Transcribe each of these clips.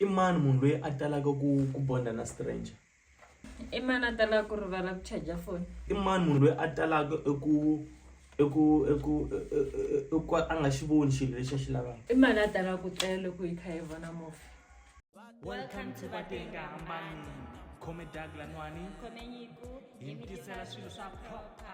I mani munhu loyi a talaka ku ku bonda na stranger? I mani a talaka ku rivala ku charger foni? I mani munhu loyi a talaka eku eku eku eku ka a nga xi voni xilo lexi a xi lavaka? I mani a talaka ku tlela loko yi kha yi vona movie? Welcome to Vatenga Hambani. Khome Doug Lanwani. Khome Nyiku. Hi mi tisela swilo swa nkoka.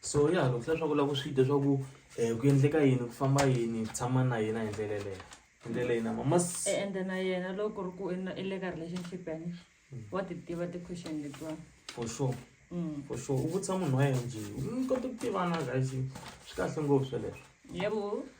so ya loko leswaku u lava ku swi dya swa ku um eh, ku endleka yini ku famba yini ku tshama na yena hi ndlela yeleyo hi ndlela yina mamas e ende na yena loko ri ku i le ka relationship yani hmm. wa ti tiva ti-question letiwani for sure hmm. for sure u vutisa munhu wa yena njhe u kota ku tivana guys swi kahle ngopfu sweleswo yebo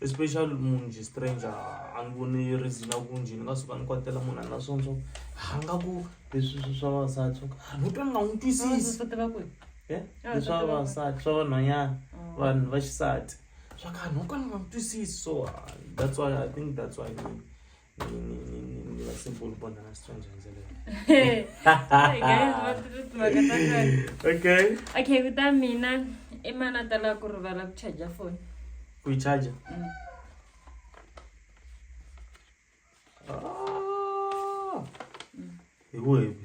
especial munhu njhe stranger a ni voni reason ya ku njhe ni nga suka ni kwatela munhu a ni na swona swa ha nga ku leswi swi swa vavasati swa ku a ni twa ni nga n'wi twisisi leswa vavasati swa vanhwanyana vanhu va xisati swa ku a ni twa ni nga n'wi twisisi so that's why i think that's why. okay okay kuta mina i mana tala ku rivala ku charger phone ku yi charger mm. ah. hi webi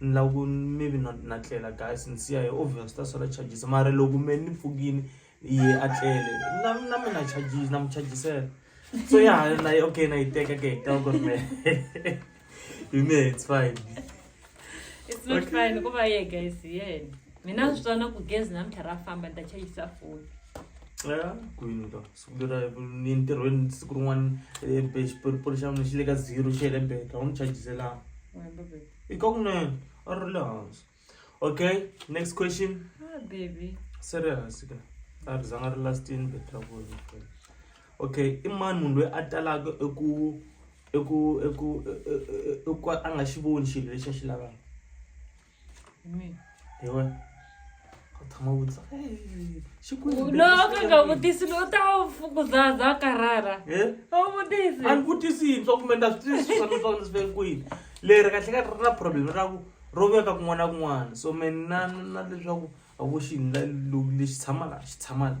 Ni lava ku maybe na na tlela guys ni siya hi obvious swi ta sala charges mara loko me ni pfukini ye a tlele na na mi na charges na mi chargisela so ya na yi okay na yi teka ke hi ta ku me hi me it's fine it's not okay. fine ku va ye guys yeah mina swi tsana ku gezi na mtlha ra famba ni ta chargisa phone ya kwini ka siku lera ni ntirhweni siku rin'wana eh, xipolixi xa mina xi le ka zero xi hele beta u ni chargiselanga i ka kunene a ri le hansi okay next question ah, baby se ri hansi ka a ri zanga ri lastini bet ra vona okay i mani munhu loyi a talaka eku eku eku eku a nga xi voni xilo lexi a xi lavaka ewa ka thoma o botsa "Hey, she could have no been ka this nga way." vutisi no ta fukuzaza karara Eh? a wu vutisi a ni vutisi yintshwa kumbe na swi twisisi swa leswaku ni swi veke kwini leri kahle ka ri na problem ra ku ro veka kun'wana na kun'wana so me na na leswaku a vo xi la- lo- lexi tshamaka xi tshamaka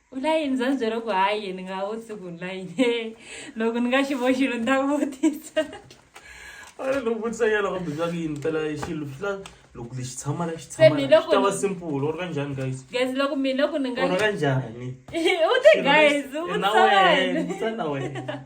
U la yini za ni byela ku hayi ni nga vutisi ku ni la yini loko ni nga xi vo xilo ni ta vutisa a loko vutisa ya loko bindza ku yini pela xilo swi la loko lexi tshama la xi Se tshama mi la loko xi ta va ni- simple or kanjhani guys guys loko mina loko ni nga or kanjhani u te guys u Xilo na vutisa wena, wena vutisa na wena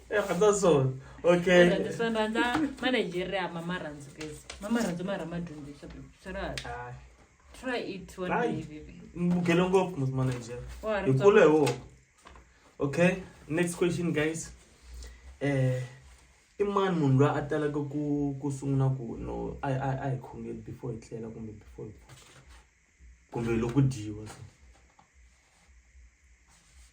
That's all. Okay. Ora ndisona nda Nigeria mama ranzu guys. Mama ranzu mara madhumbi shabu. Sara. Ah. Try it one Bye. day baby. Mugele ngopfu musi ma Nigeria. Ora. Hi kule wo. Okay. Next question guys. Eh i mani munhu loyi a talaka ku ku sungula ku no a a a hi khongeli before hi tlela kumbe before hi kumbe loko dyiwa so.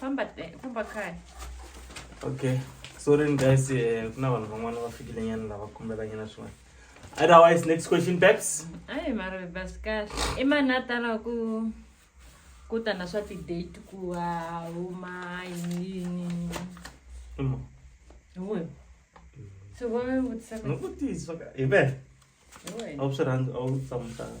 famba eh, famba kaya okay sorry guys eh, ku na vanhu van'wana va fikile nyana lava kombela nyana swin'wana otherwise next question babs ayi mara basi kahle i mani a tala ku ku ta na swa ti-date ku a huma yiniyini Uma. hiwe so va mi vutisa No ku tiyiswa ka hi vele a wu swi rhandzi a wu tsamutana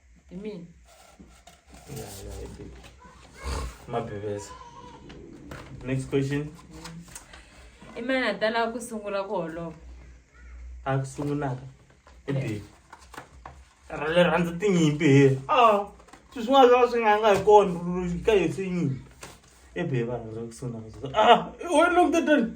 Imini. Yeah, yeah, it did. Mabiveza. Next question. I mani a tala ku sungula ku holova? A ku sungulaka. I did. Rale rhandza tinyimpi he. Ah, swi swi nga swi swi nga nga hi kona ka hi tinyimpi. I be va rhandza ku sungula. Ah, wena lokutetani.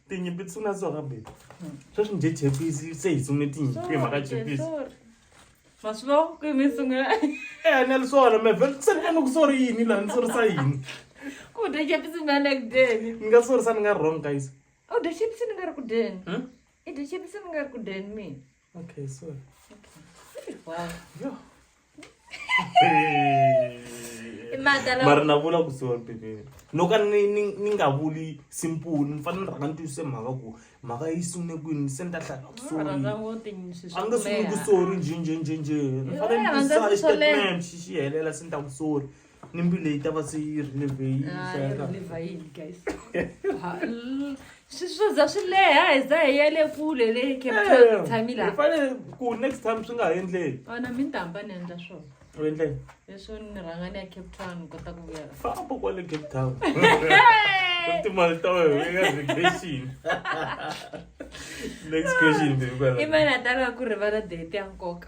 tinyimpi ti sungula so ka bebe sweswi njhe jepisi se hi sunge tinyimpi mhaka jepisi maswivo kwi mi sungula eya ni ri swona mevhe se ni vona ku sori yini laha ni sorisa yini ku dya jepisi mi ane ku dyeni ni nga sorisa ni nga wrong guys u dya jepisi ni nga ri ku dyeni i dya jepisi ni nga ri ku dyeni mina Okay, sorry. Okay. Wow. Yo. mara na vula ku sorry baby no ka ni ni ni nga vuli simple ni fana ni rhanga ni twisise mhaka ku mhaka yi sungune kwini se ni ta hlaya ku sorry a nge sunguni ku sorry njhe njhe njhe njhe ni fane ni twisisa statement xi xi helela se ni ta ku sorry ni mbilu leyi ta va se yi ri levheyini Ah, yi ri levhayini guys Ha, l- swi swo za swi leha hi za hi ya le kule le cape town hi tshami laha fanele ku next time swi nga ha endleki ona mi ni ta hamba ni endla swona u endleke leswo ni rhanga ni ya cape town ni kota ku vuya la famba kwale cape town timali ta wena eka vacation next question baby kwala i mani a talaka ku rivala date ya nkoka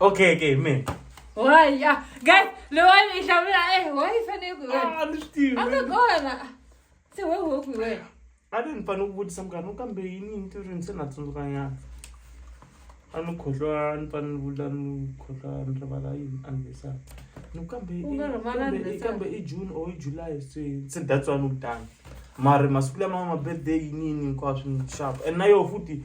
okay okay me why yeah guys le wena i hlamula eh why i fanele ku wena ah ni swi tivi a nga kona se we wo ku wena a ni fanele ku vutisa mukana kambe yini ni ti rini se na tsundzuka nyana a ni khohlwa ni fanele ni vula ni khohlwa ni rivala yini anniversary ni kambe kambe i june or i july se se that's why ni kutani mara masiku lama ma birthday yini yini hinkwaswo ni xava and na yoho futhi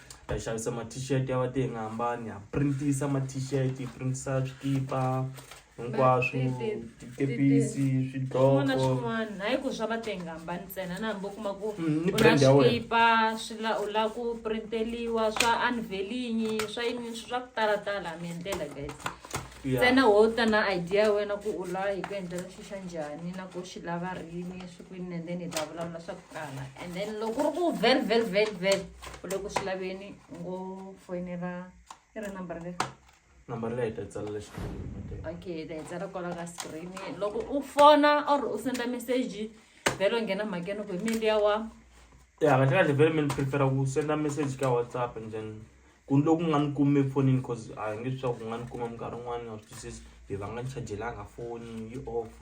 hi xavisa ma t-shirt ya va te hi nga hambani ha printisa ma t-shirt hi printisa swikipa hinkwaswo tikepisi swidloko swin'wana hayi ku swa va te hi nga hambani ntsena na hambi u kuma ku mm, u na swikipa swi la u la ku printeliwa swa unvelingi swa yini swi swa ku talatala mi endlela guys ntsena wo ta na idea ya wena ku u la hi ku endlela xi xa njhani na ku xi lava rini swi kwini and then hi ta vulavula swa ku tala and then loko ri ku very very very very u le ku swi laveni u ngo foyinela i ri number leri number leyi ta tsala le xikolweni okay ta tsala kwala ka screen loko u fona or u senda message vhelo nghena mhakeni ku hi mindi ya wa ya kahle kahle vhele mi ni prefera ku senda message ka whatsapp and then ku ni loku nga ni kumi efonini cause a hi nge swi swa ku nga ni kuma minkarhi yin'wana ni nga swi twisisi hi va nga ni chajelanga foni yi off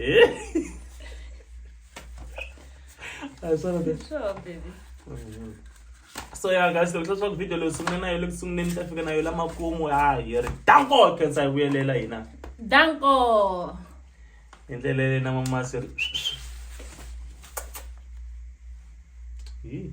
Ee? Ay sana de. Good job, baby. so ya guys loko swa swaku video leyi sungule na yo le ku sunguleni yi ta fika na yo lamakumu ha hi ri danko khensa hi vuyelela hina Danko. hi ndlela leyi na mamasi ri Hi.